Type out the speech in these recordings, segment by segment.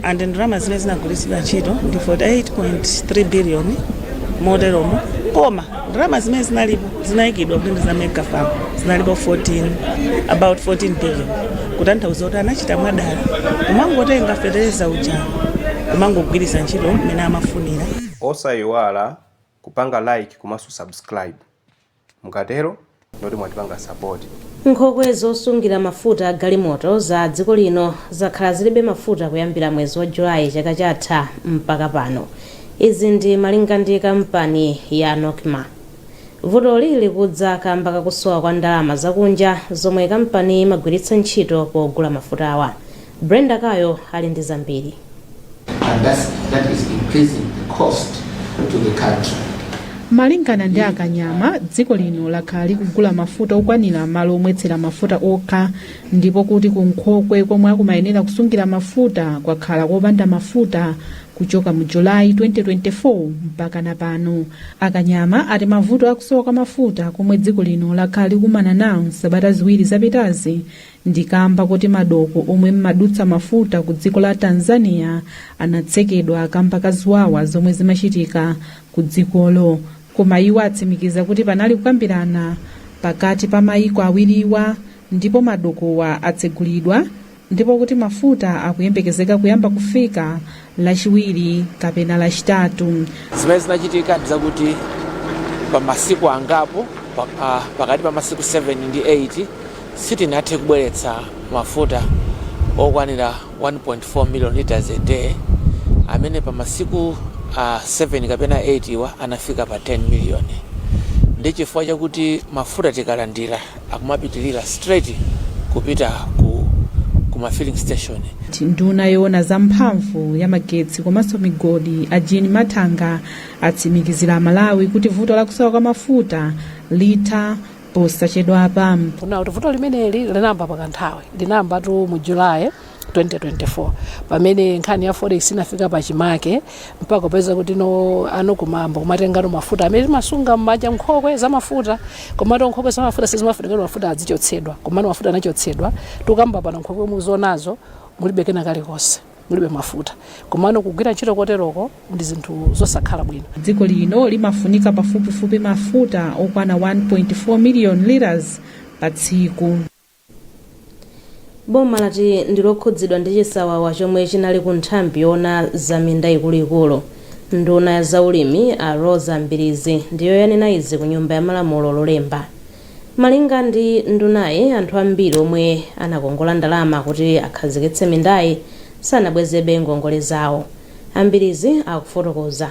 and ndalama zimene zinagwiritsidwa ntchito ndi 48.3 billion moteromo koma ndalama zimene zinalipo zinayikidwa kuti ndi za mega farm zinalipo about 14 billion kutanthauza kuti anachita mwadala kumangotenga fetereza uja kumangogwiritsa ntchito mmene amafunira osayiwala kupanga like komanso subscribe. Mukatero ndiye kuti mwatipanga support. Nkhokwe zosungira mafuta a galimoto za dziko lino zakhala zilibe mafuta kuyambira mwezi wa July chaka chatha mpaka pano. Izi ndi malinga ndi kampani ya Nocma. Vutoli likudza kamba kakusowa kwa ndalama zakunja zomwe kampaniyi imagwiritsa ntchito pogula mafutawa. Brenda Kayo ali ndi zambiri. and that's, that is increasing the cost to the country. malingana ndi a Kanyama dziko lino lakhala likugula mafuta okwanira m'malo omwetsera mafuta okha ndipo kuti kunkhokwe komwe akumayenera kusungira mafuta kwakhala kopanda mafuta kuchoka mu julayi 2024 mpakana pano a Kanyama ati mavuto akusowa kwa mafuta komwe dziko lino lakhala likumana nawo m'sabata ziwiri zapitazi Ndi kamba kuti madoko omwe mumadutsa mafuta ku dziko la Tanzania anatsekedwa kamba ka ziwawa zomwe zimachitika ku dzikolo. Koma iwo atsimikiza kuti panali kukambirana pakati pa mayiko awiriwa ndipo madokowa atsegulidwa ndipo kuti mafuta akuyembekezeka kuyamba kufika lachiwiri kapena lachitatu zimene zinachitika ndi zakuti pa masiku angapo pa- ah, pakati pa masiku 7 ndi 8 sitinathe kubweretsa mafuta okwanira 1.4 million liters a day amene pa masiku ah, 7 kapena 8 wa anafika pa 10 million ndi chifukwa chakuti mafuta tikalandira akumapitilira straight kupita ku ku ma filling station. Nduna yoona za mphamvu ya magetsi komanso migodi a Jean Mathanga atsimikizira Amalawi kuti vuto la kusowa kwa mafuta litha posachedwapa. Kunena kuti vuto limeneli linayamba pakanthawi, linayambatu mu July. 2024 pamene nkhani ya forex inafika pa chimake mpaka kupeza kuti no a Nocma ayamba kumatengano mafuta amene timasunga m'muja nkhokwe za mafuta komato nkhokwe za mafuta sizimafunika kuti mafuta azichotsedwa komano mafuta anachotsedwa tikukamba pano nkhokwe zimenezo mulibe kena kalikonse mulibe mafuta komano kugwira ntchito koteroko ndi zinthu zosakhala bwino dziko lino limafunika pafupifupi mafuta okwana 1.4 million liters pa tsiku Boma lati ndi lokhudzidwa ndi chisawawa chomwe chinali ku nthambi yoona za minda ikuluikulu. Nduna ya za ulimi a Roza Mbilizi ndiyo yanena izi ku nyumba ya malamulo Lolemba. Malinga ndi ndunayi anthu ambiri omwe anakongola ndalama kuti akhazikitse mindayi sanabwezebe ngongole zawo. A Mbilizi akufotokoza.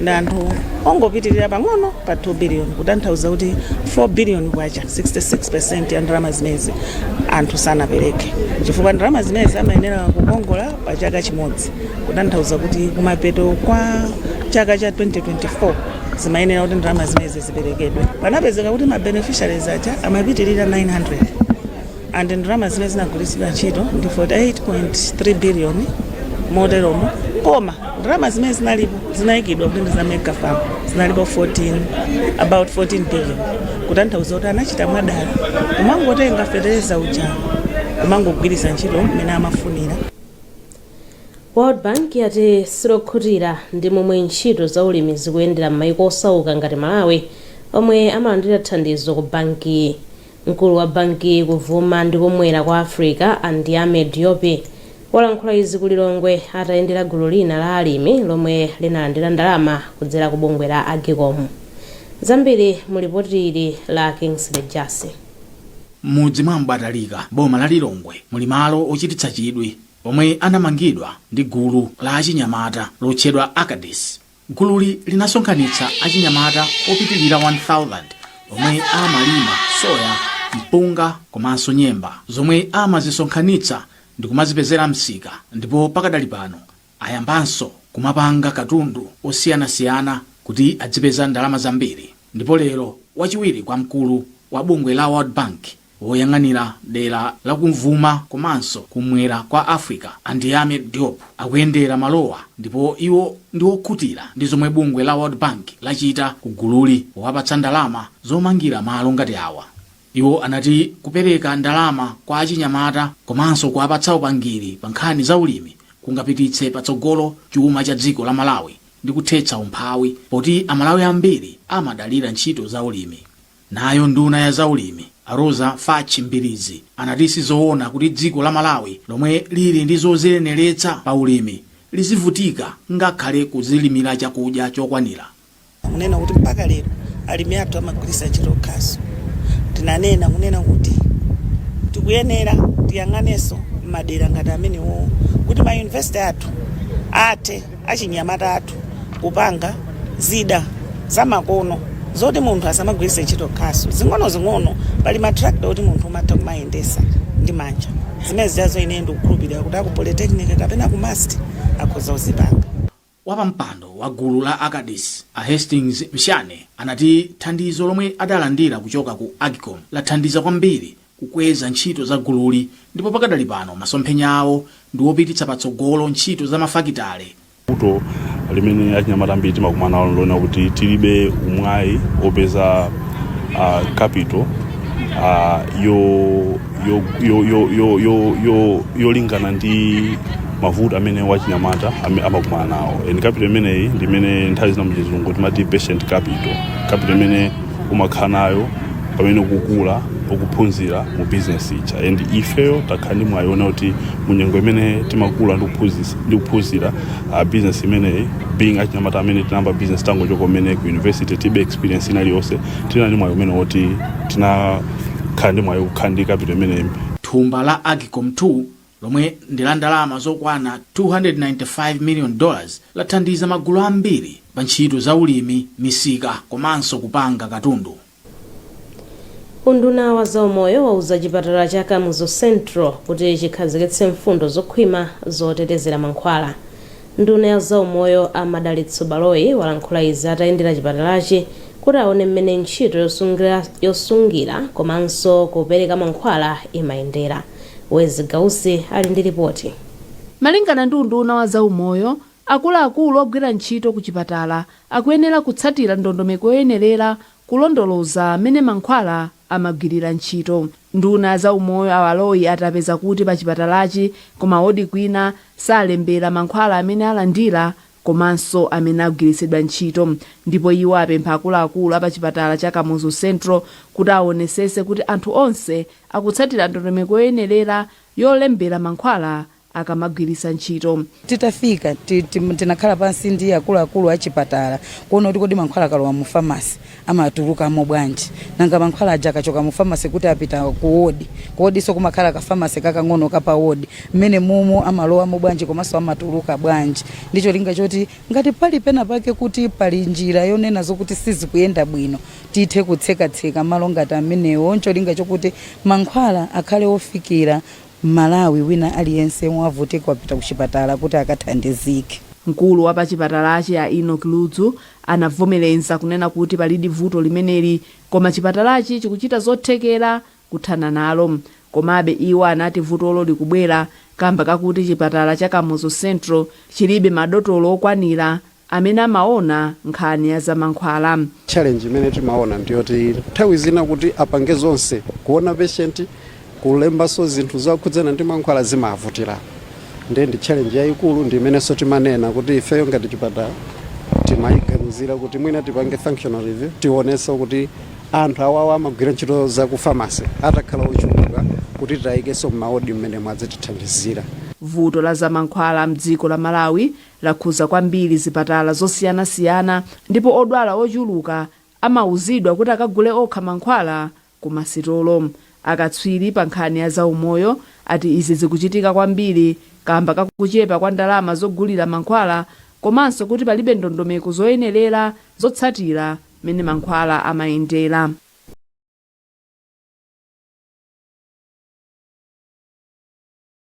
ndi anthu ongopitirira pang'ono pa 2 biliyoni kutanthauza kuti 4 biliyoni kwacha 66 percent ya ndalama zimezi anthu sanapereke chifukwa ndalama zimezi amayenera kukongola pa chaka chimodzi kutanthauza kuti kumapeto kwa chaka cha 2024 zimayenera kuti ndalama zimezi ziperekedwe panapezeka kuti ma beneficiaries aja amapitirira 900 and ndalama zimene zinagwiritsidwa ntchito ndi 48.3 billion moteromo koma ndalama zimene zinalipo zinayikidwa kuti ndi za mega farm zinalipo about 14 billion kutanthauza kuti anachita mwadala kumangotenga fetereza uja kumangogwiritsa ntchito mmene amafunira world bank yati silokhutira ndi momwe ntchito za ulimi zikuyendera m'mayiko osauka ngati malawi omwe amalandira thandizo ku bankiyi Mkulu wa bankiyi kuvuma ndi kumwera kwa Africa a Ndiame Diop walankhula izi ku Lilongwe atayendera gulu lina la alimi lomwe linalandira ndalama kudzera ku bungwe la Agcom. Zambiri mu lipoti ili la Kingsley Jassi. M'mudzi mwa M'batalika m'boma la Lilongwe muli malo ochititsa chidwi omwe anamangidwa ndi gulu la achinyamata lotchedwa Acades Gululi linasonkhanitsa achinyamata opitilira 1,000 omwe amalima soya, mpunga komanso nyemba zomwe amazisonkhanitsa ndi kumazipezera msika ndipo pakadali pano ayambanso kumapanga katundu osiyanasiyana kuti adzipeza ndalama zambiri ndipo lero wachiwiri kwa mkulu wa bungwe la World Bank Woyang'anira dera la kumvuma komanso kumwera kwa Africa, a Ndiame Diop, akuyendera malowa ndipo iwo ndi okhutira ndi zomwe bungwe la World Bank lachita ku gululi powapatsa ndalama zomangira malo ngati awa. Iwo anati kupereka ndalama kwa achinyamata komanso kuwapatsa upangiri pa nkhani za ulimi kungapititse patsogolo chuma cha dziko la Malawi ndi kuthetsa umphawi poti aMalawi ambiri amadalira ntchito za ulimi. Nayo nduna ya za ulimi, a Roza Fatch Mbilizi, anati si zoona kuti dziko la Malawi lomwe lili ndi zoziyeneretsa pa ulimi lizivutika ngakhale kudzilimira chakudya chokwanira. kunena kuti mpaka lero alimi athu amagwiritsa ntchito khasu. Tinanena kunena kuti tikuyenera tiyang'anenso m'madera ngati amenewowo kuti ma university athu athe. achinyamata athu kupanga zida zamakono zoti munthu asamagwiritse ntchito khasu zing'onozing'ono pali matrakita oti munthu umatha kumayendesa ndi manja zimene zijazo ineyo ndikukhulupirira kuti aku polytechnic kapena ku mast akhoza kuzipanga Wapampando wa gulu la Acades, a Hastings Mshane, anati thandizo lomwe adalandira kuchoka ku Agcom lathandiza kwambiri kukweza ntchito za gululi ndipo pakadali pano masomphenya awo ndi wopititsa patsogolo ntchito za mafakitale. Vuto limene achinyamata ambiri timakumana nalo ndi lonena kuti tilibe umwayi opeza uh, capital uh, yolingana ndi mavuto amene wachinyamata amakumana nawo and capital imeneyi ndimene nthawi zina muchizungu timati patient capital capital imene umakhala nayo pamene ukukula ukuphunzira mu bizinesi ija and ifeyo takhala ndi mwayi wona kuti mu nyengo imene timakula ndi kuphunzis- ndi kuphunzira uh, bizinesi imeneyi being achinyamata amene tinayamba bizinesi tangochoka kumene ku university tilibe experience ina iliyonse tinali ndi mwayi umene woti tinakhala ndi mwayi kukhala ndi kapito imeneyi thumba la agcom 2 lomwe ndi la ndalama zokwana 295 million dollars lathandiza magulu ambiri pa ntchito za ulimi, misika komanso kupanga katundu. Unduna wa zaumoyo wauza chipatala cha Kamuzu Central kuti chikhazikitse mfundo zokhwima zotetezera mankhwala. Nduna ya zaumoyo a Madalitso Baloyi walankhula izi atayendera chipatalachi kuti aone mmene ntchito yosungira komanso kupereka mankhwala imayendera. Wezzie Gausi ali ndi lipoti. Malingana ndi unduna wa zaumoyo, akuluakulu ogwira ntchito ku chipatala akuyenera kutsatira ndondomeko yoyenerera Kulondoloza mmene mankhwala amagwirira ntchito. Nduna ya zaumoyo a Baloyi ati apeza kuti pa chipatalachi ku ma wodi kwina salembera mankhwala amene alandira komanso amene agwiritsidwa ntchito ndipo iwo apempha akuluakulu a pa chipatala cha Kamuzu Central kuti awonesese kuti anthu onse akutsatira ndondomeko yoyenerera yolembera mankhwala akamagwiritsa ntchito. Titafika, ti- ti- tinakhala pansi ndi akuluakulu a chipatala kuona kuti kodi mankhwala akalowa mu famasi amatulukamo bwanji, nanga mankhwala aja akachoka mu famasi kuti apita ku wodi, ku wodinso kumakhala ka famasi kakang'ono ka pa wodi, mmenemomo amalowamo bwanji komanso amatuluka bwanji, ndi cholinga choti ngati pali pena pake kuti pali njira yonena zokuti sizikuyenda bwino tithe kutsekatseka malo ngati amenewo, ncholinga chokuti mankhwala akhale ofikira M'Malawi wina aliyense yemwe wavutika wapita kuchipatala kuti akathandizike. Mkulu wa pachipatalachi a Enock Ludzu anavomereza kunena kuti palidi vuto limeneli koma chipatalachi chikuchita zothekera kuthana nalo. Komabe iwo anati vutolo likubwera kamba kakuti chipatala cha Kamuzu Central chilibe madotolo okwanira amene amaona nkhani ya za mankhwala. Challenge imene timaona ndi yoti nthawi zina kuti apange zonse, kuona patient, kulembanso zinthu zokhudzana ndi mankhwala zimawavutira. Ndiye ndi challenge yaikulu ndi imenenso timanena kuti ifeyo ngati chipatala timaiganizira kuti mwina tipange functional review tionenso kuti anthu awawa amagwira ntchito za ku pharmacy atakhala ochuluka kuti tiwaikenso m'ma ward m'menemu azitithandizira. Vuto la za mankhwala m'dziko la Malawi lakhudza kwambiri zipatala zosiyanasiyana ndipo odwala ochuluka amauzidwa kuti akagule okha mankhwala ku masitolo. Akatswiri pa nkhani ya zaumoyo ati izi zikuchitika kwambiri kaamba ka kuchepa kwa ndalama zogulira mankhwala komanso kuti palibe ndondomeko zoyenerera zotsatira mmene mankhwala amayendera.